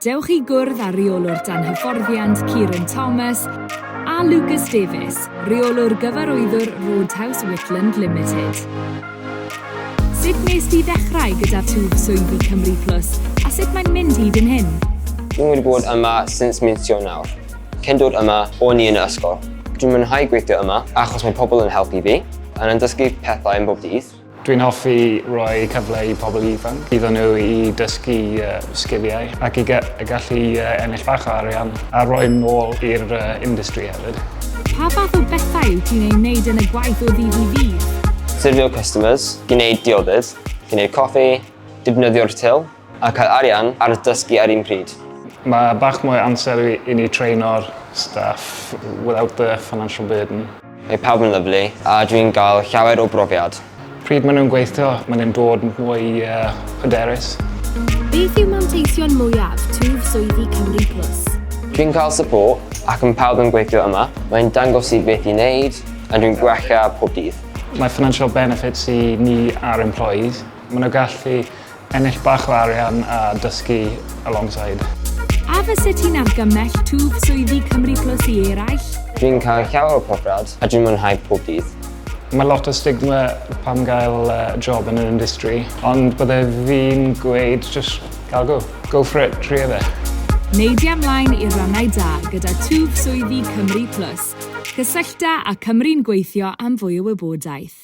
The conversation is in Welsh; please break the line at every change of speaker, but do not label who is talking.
Dewch i gwrdd â Rheolwr Dan Hyfforddiant Kieran Thomas a Lucas Davies, Rheolwr Gyfarwyddwr Roadhouse Whitland Limited. Sut wnes di ddechrau gyda twf swyddi Cymru Plus a sut mae'n mynd hyd yn hyn? Dwi wedi bod
yma since mis Ionawr. Cyn dod yma, o'n i yn y ysgol. Dwi'n mwynhau gweithio yma achos mae pobl yn helpu fi, yn yn dysgu pethau yn bob dydd. Dwi'n hoffi
rhoi cyfle i pobl ifanc iddyn nhw i dysgu sgiliau ac i gallu ennill bach o arian a rhoi nôl i'r industry hefyd. Pa fath o
bethau wyt ti'n eu wneud yn y gwaith o ddydd i ddydd? Syrfio customers,
gwneud diodydd, gwneud coffi, defnyddio'r til, A cael arian ar dysgu ar un pryd. Mae bach mwy
o amser i ni traeno'r staff without the financial burden. Mae pawb yn lyfli
a dwi'n gael llawer o brofiad. Pryd maen nhw'n gweithio,
maen nhw'n dod yn fwy hyderus. Beth
yw manteision mwyaf twf swyddi Cymru Plus? Dwi'n cael
support ac mae pawb yn gweithio yma. Mae'n dangos i beth i wneud a dwi'n gwella pob dydd. Mae financial
benefits i ni a'r employees. Maen nhw'n gallu Ennill bach o arian a dysgu alongside. A fyset
ti'n argymell twf swyddi Cymru Plus i eraill? Dwi'n cael llawer
o profiad a dwi'n mwynhau pob dydd. Mae lot o
stigma pam gael job yn yr industry, ond bydde fi'n gweud just gael go. Go for it, tria fe. Neidia
mlaen i'r rannau da gyda twf swyddi Cymru Plus. Cysyllta â Cymru'n Gweithio am fwy o wybodaeth.